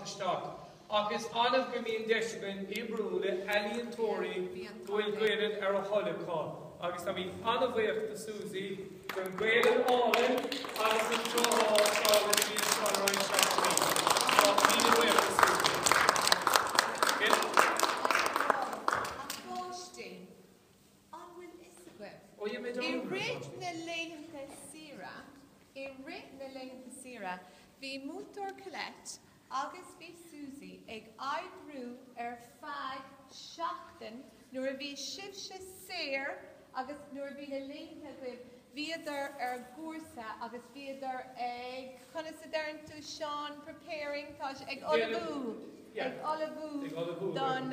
isteach, ach is annamh go mbíonn deis againn oibriú le healaíontóirí go bhfuil Gaelainn ar a dtoil acu agus táimid an-bhuíoch do Susie dhen Ghaelainn álainn agus an seo a fhágáil i dtrí an scannáin seo anois. Tá míle buíoch do Susie. Míle buíoch do Susie. Tá an fáth sin. An bhfuil fhios agaibh, i rith na laethanta saoire, i rith na laethanta saoire, bhí Múinteoir Colette agus bhí Susie ag oibriú ar feadh seachtain nuair a bhí sibhse saor agus nuair a bhí na laethanta agaibh, bhíodar ar chúrsa agus bhíodar ag, conas a deireann tú Seán, preparing, tá sé, ag ullmhú, ag ullmhú don.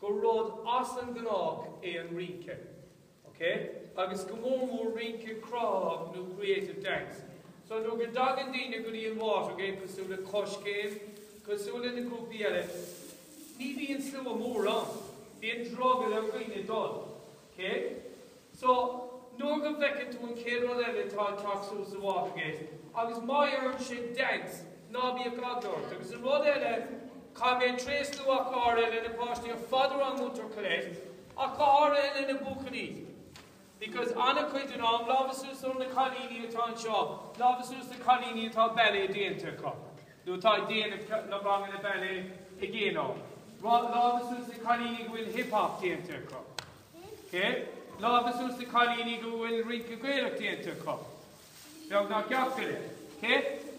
gur rud as an gnách é an rince, ok, agus go mór mór rince cruthaitheach nó creative dance. So nuair go dtagann daoine go dtí an Watergate cosúil le Coiscéim, cosúil leis na grúpaí eile, ní bhíonn slua mór ann, bíonn drogall ar dhaoine dul. OK, So, nuair go bhfeiceann tú an chéad rud eile atá ag teacht suas sa Watergate, agus má dheireann sé dance, ná bíodh eagla ort. Agus an rud eile, caithfidh mé tréaslú ach go háirithe le na páistí ar fad agus le Múinteoir Colette, ach go háirithe le na buachaillí. Because an-chuid den am, lámha suas ó na cailíní atá anseo, lámha suas na cailíní atá ballet déanta acu. nó atá ag déanamh na ranganna ballet i gcéin ann. Lámha suas le cailíní go bhfuil hip hop déanta acu. Ok? Lámha suas le cailíní go bhfuil rince Gaelach déanta acu. Beag ná ceacht eile. Ok?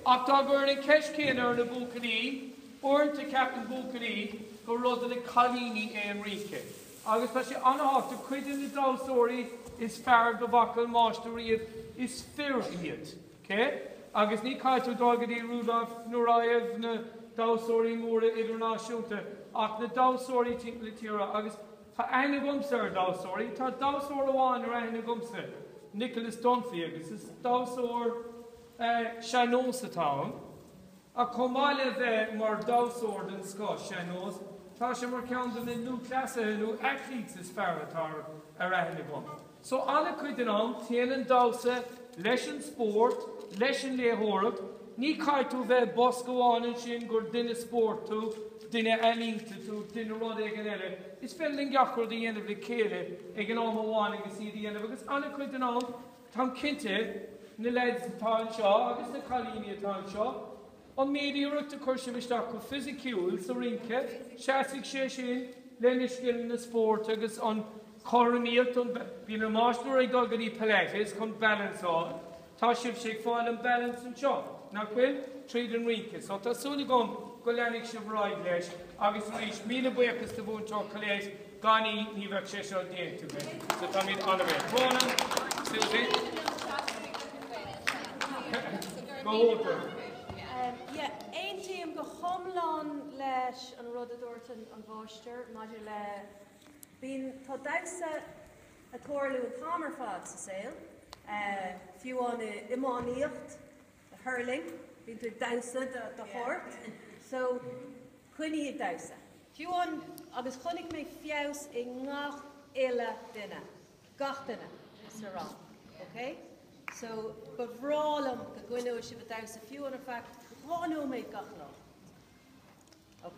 Ach dá gcuirfinn an ceist céanna ar na buachaillí, uaireanta ceapann buachaillí gur rud le cailíní é an rince. Agus tá sé an-tábhachtach, cuid de na damhsóirí is fearr dá bhfaca an máistir riamh, is fir iad. OK, agus ní chaithfidh tú dul go dtí Rudolf Nureyev, na damhsóirí móra idirnáisiúnta, ach na damhsóirí timpeall na tíre, agus tá aithne agamsa ar dhamhsóirí, tá damhsóir amháin ar aithne agamsa, Nicholas Dunphy, agus is damhsóir sean-nóis atá ann. Ach chomh maith le bheith mar dhamhsóir den scoth sean-nós, tá sé mar cheann de na lúthchleasaithe nó athletes is fearr atá ar aithne agam. So an-chuid den am, téann an damhsa leis an spórt, leis an léitheoireacht, ní chaithfidh tú bheith i mbosca amháin ansin gur duine spóirt tú, duine ealaíonta tú, duine rud éigin eile, is féidir linn gach rud a dhéanamh le chéile ag an am amháin agus iad a dhéanamh agus an-chuid den am, Táim cinnte, na leaids atá anseo agus na cailíní atá anseo, an méid iarracht a chuir sibh isteach go fisiciúil sa rince, seasfaidh sé sin lena scileanna spóirt agus an chothromaíocht an, bíonn an máistir ag dul go dtí Pilates chun balance a fháil. Tá sibhse ag fáil an balance anseo, nach bhfuil? Tríd an rince. So tá súil agam go leanfaidh sibh ar aghaidh leis. Agus arís, míle buíochas do Mhúinteoir Coiléis Gan í ní bheadh sé seo déanta againn, so táimid ana-bhuíoch. Crónán, Sylvie. Go hiontach. Yeah, aontaím go hiomlán leis an rud a dúirt an máistir maidir le bíonn, tá damhsa ag tarlú an t-am ar fad sa saol, fiú amháin iománaíocht, The hurling, bíonn tú ag damhsa de shórt, so coinnigh ag damhsa. Fiú amháin, agus chonaic mé feabhas i ngach uile duine, gach duine sa rang, ok? So ba bhreá liom go gcoinneodh sibh ag damhsa fiú amháin ar feadh dhá nóiméad gach lá. Ok.